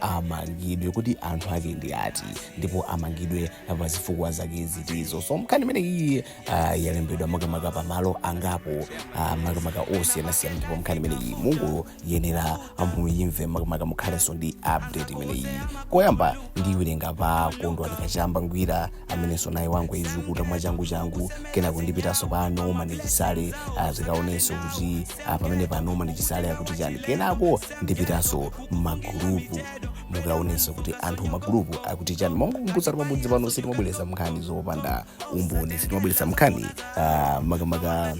amangidwe kuti anthu ake ndi ati ndipo amangidwe pa zifukwa zake zitizo so mkhani imene iyi ah, yalembedwa makamaka pa malo angapo ah, makamaka osiyanasiyana ndipo mkhani imene iyi mukuyenera muyimve makamaka mukhalenso ndi update imene iyi koyamba ndiwerenga pa kondwani kachamba ngwira amenenso naye wangoyizukuta mwachangu changu kenako ndipitanso pa onjezani chisale ah, tikaonenso kuti ah, pamene pa noma ndichisale akuti chani kenako ndipitanso magulupu mukaonenso kuti anthu magulupu akuti chani nkungokumbutsa kuti pamudzi pano sitimabweretsa mnkhani zopanda umboni sitimabweretsa mnkhani ah, makamaka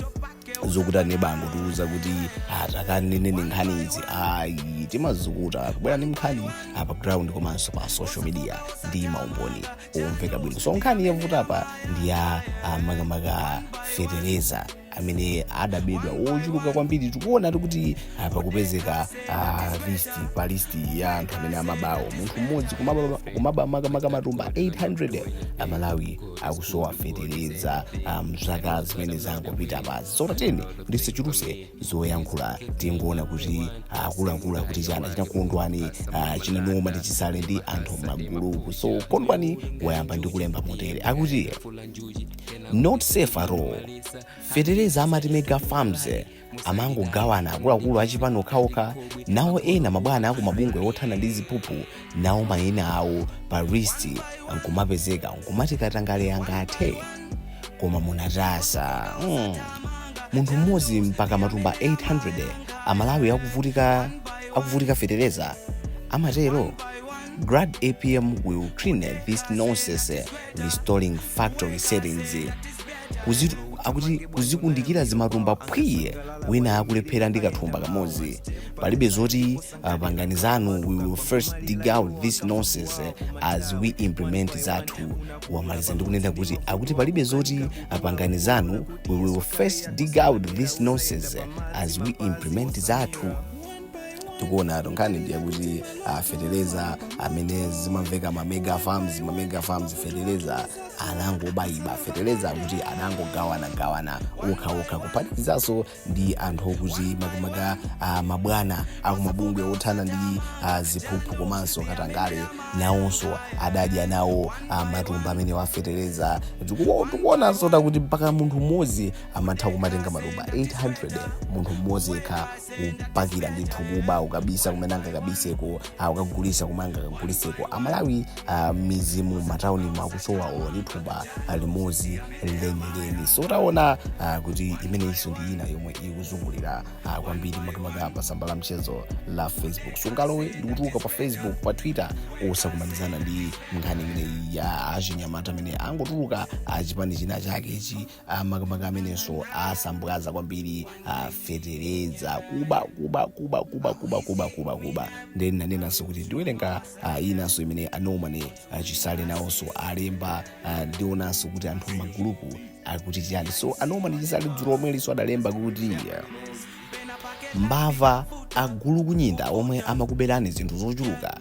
zokuti aneba angotiuza kuti takaneneni nkhani izi ayi timazukuta kubwera ndi mnkhani za pa ground komanso pa social media ndi maumboni omveka bwino so nkhani yavuta apa ndi ya ah, makamaka fetereza amene adabedwa wochuluka kwambiri tikuona kuti ah, pakupezeka ah, list pa list ya anthu amene amabawo munthu mmodzi kumaba- kumaba makamaka matumba 800 amalawi akusowa fetereza ah, mzaka zimene zangopita basi so tatiyeni ndisachuluse zoyankhula tingoona kuti akuluakulu akuti chani chinakondwani ah, chinanoma ndi chisale ndi anthu m'magulupu so kondwani wayamba ndi kulemba motere akuti not safe at all fetereza amati mega farms amangogawana akuluakulu achipani okhaokha nawo ena mabwana aku mabungwe othana ndi ziphuphu nawo mayina awo pa list nkumapezeka nkumati katangale angathe koma munatasa mm. munthu mmodzi mpaka matumba 800 amalawi akuvutika fetereza amatero glad apm will clean this nonsense restoring factory settings Kuzi- akuti kuzikundikira zimatumba phwiye wina akulephera ndi kathumba kamodzi palibe zoti uh, pangani zanu we will first dig out this nonsense eh, as we implement zathu wamaliza ndi kunena kuti akuti palibe zoti uh, pangani zanu we will first dig out this nonsense eh, as we implement zathu tikuonatu nkhani ndiye kuti ah, fetereza amene zimamveka ma mega farms ma mega farms fetereza anangobayiba fetereza kuti anangogawana gawana okha okha kuphatikizanso ndi anthu okuti makamaka ah, mabwana akumabungwe othana ndi ah, ziphuphu komanso katangale nawonso adadya nawo ah, matumba amenewa afetereza Tiku- tikuonanso zakuti mpaka munthu mmodzi amatha kumatenga matumba 800 munthu mmodzi yekha kupakira ndithu kuba ukabisa kumene angakabiseko uh, ukagulisa kumene angakaguliseko amalawi uh, mmizimu mmataunimu akusowa olo ndi thumba uh, limodzi lenileni so taona uh, kuti imeneyinso ndi ina yomwe ikuzungulira uh, kwambiri makamaka pa tsamba la mchezo la facebook sungalowe ndikutuluka pa facebook pa twitter osakumanizana ndi nkhani imeneyi ya achinyamata amene angotuluka achipani china chake ichi Ah, makamaka amenenso asambwaza kwambiri ah, fetereza kuba kuba kuba kuba kuba kuba kuba kuba then nanenanso kuti ndiwerenga ah, inanso imene a norman chisale nawonso alemba ah, ndionanso kuti anthu mmagulupu akuti chiyani so a norman chisale dzulo lomwelinso adalemba kuti ah, mbava agulukunyinda omwe amakuberani zinthu zochuluka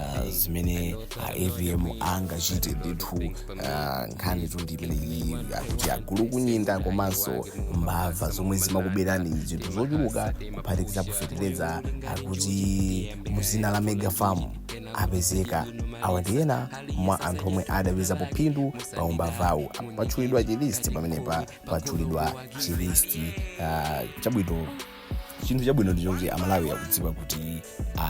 ah, zimene a avm angachite ndithu ah, nkhanitu ndi imeneyi akuti agulukunyinda komanso mbava zomwe zimakuberani zinthu zochuluka kuphatikizapo fetereza akuti muzina la mega farm apezeka awa ndi ena mwa anthu omwe adapezapo phindu pa umbavawu Apa patchulidwa chilisti pamenepa patchulidwa chilisti ah, chabwino chinthu chabwino ndi choti amalawi akudziwa kuti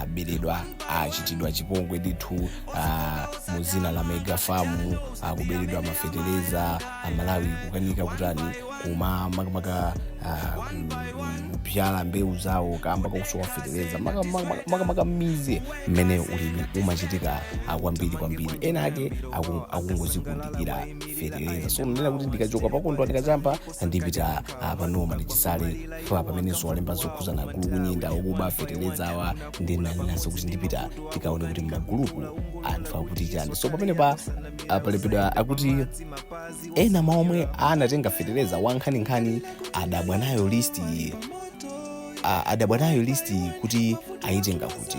aberedwa achitidwa chipongwe ndithu ah, mu zina la mega farm akuberedwa mafetereza amalawi kukanika kutani kuma makamaka ah, kubyala mbewu zawo kamba kakusowa fetereza maka- maka- makamaka mmizi mmene ulimi umachitika ah, kwambiri kwambiri ena ake aku- akungozikundikira fetereza so ndinanena kuti ndikachoka pa kondwani kachamba ndipita apa norman chisale ah, pamene zolemba zokhuza agulukunyinda okuba feteleza awa ndinanenanso kuti ndipita tikaone kuti mmagulupu anthu akuti chani so pamenepa palembedwa akuti ena mwa omwe anatenga feteleza wankhaninkhani adabwa nayo listi iyi a- adabwa nayo listi iyi kuti ayitenga kuti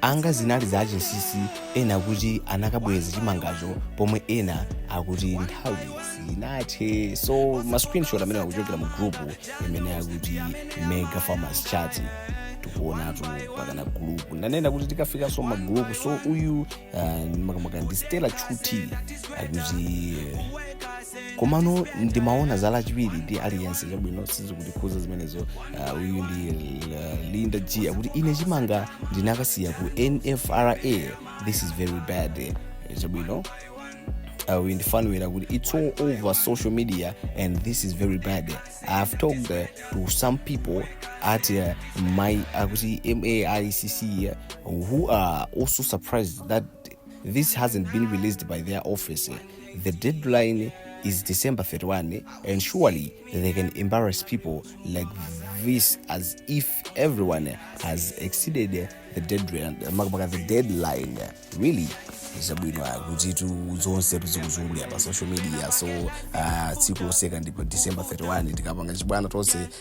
anga zinali za chinsisi ena akuti anakabweza chimangacho pomwe ena akuti nthawi sinathe so ma screenshot amene akuchokera mu group imene akuti mega farmers chat tikuonatu mpakana gulupu ndanena kuti tikafikanso mmagulupu so uyu uh, makamaka ndi stella chuthi akuti uh, komano ndimaona za lachiwiri ndi aliyense chabwino sizikundikhuza zimenezo uh, uyu ndi uh, linda g akuti ine chimanga ndinakasiya ku nfra this is very bad Eh, chabwino uh, uyu ndi fanuel akuti it's all over social media and this is very bad i have talked uh, to some people at uh, my akuti maicc uh, who are also surprised that this hasn't been released by their office The deadline is December 31 and surely they can embarrass people like this as if everyone has exceeded the deadline, maka the deadline. Really? zabwino akutitu zonse zikuzungulira pa social media so ah, tsiku loseka ndipo december 31 tikapanga chibwana tonse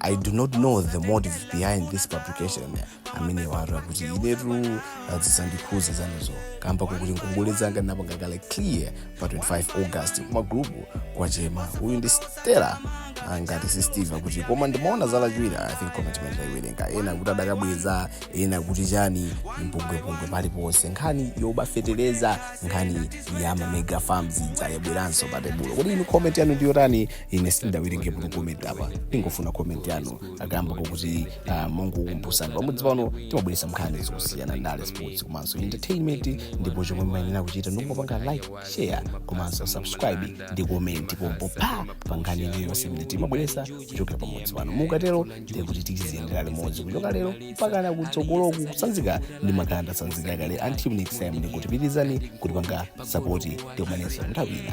i do not know the motive behind this publication amene watu akuti inetu sizikundikhudza zanuzo kamba kokuti ngongole zanga ndinapanga kale clear pa 25 august kumagrupu kwatchema uyu ndi stela ah, ngati si steve akuti koma ndimaona za lachiwiri i think comment imene ndayiwerenga ena akuti adakabweza ena akuti chani mpungwepungwe paliponse nkhani yoba fetereza nkhani ya ma mega farms yabweranso pa tebulo kodi inu comment yanu ndiyotani ine sindawerenge bwino comment apa ndingofuna comment yanu akakamba kuti ah, mongokumbusani pamudzi pano timabweretsa nkhani zosiyana ndale sports komanso entertainment ndipo chomwe mumayenera kuchita ndikungopanga like share komanso subscribe ndi comment pompo pa pa nkhani iliyonse imene timabweretsa kuchokera pamudzi pano mukatero ndiye kuti tidziyendera limodzi kuchoka lero mpaka nakutsogoloku kutsanzika ndimakana ndatsanzika kale until next time ndikuti pitirizani kutipanga sapoti tikumanenso nthawi ina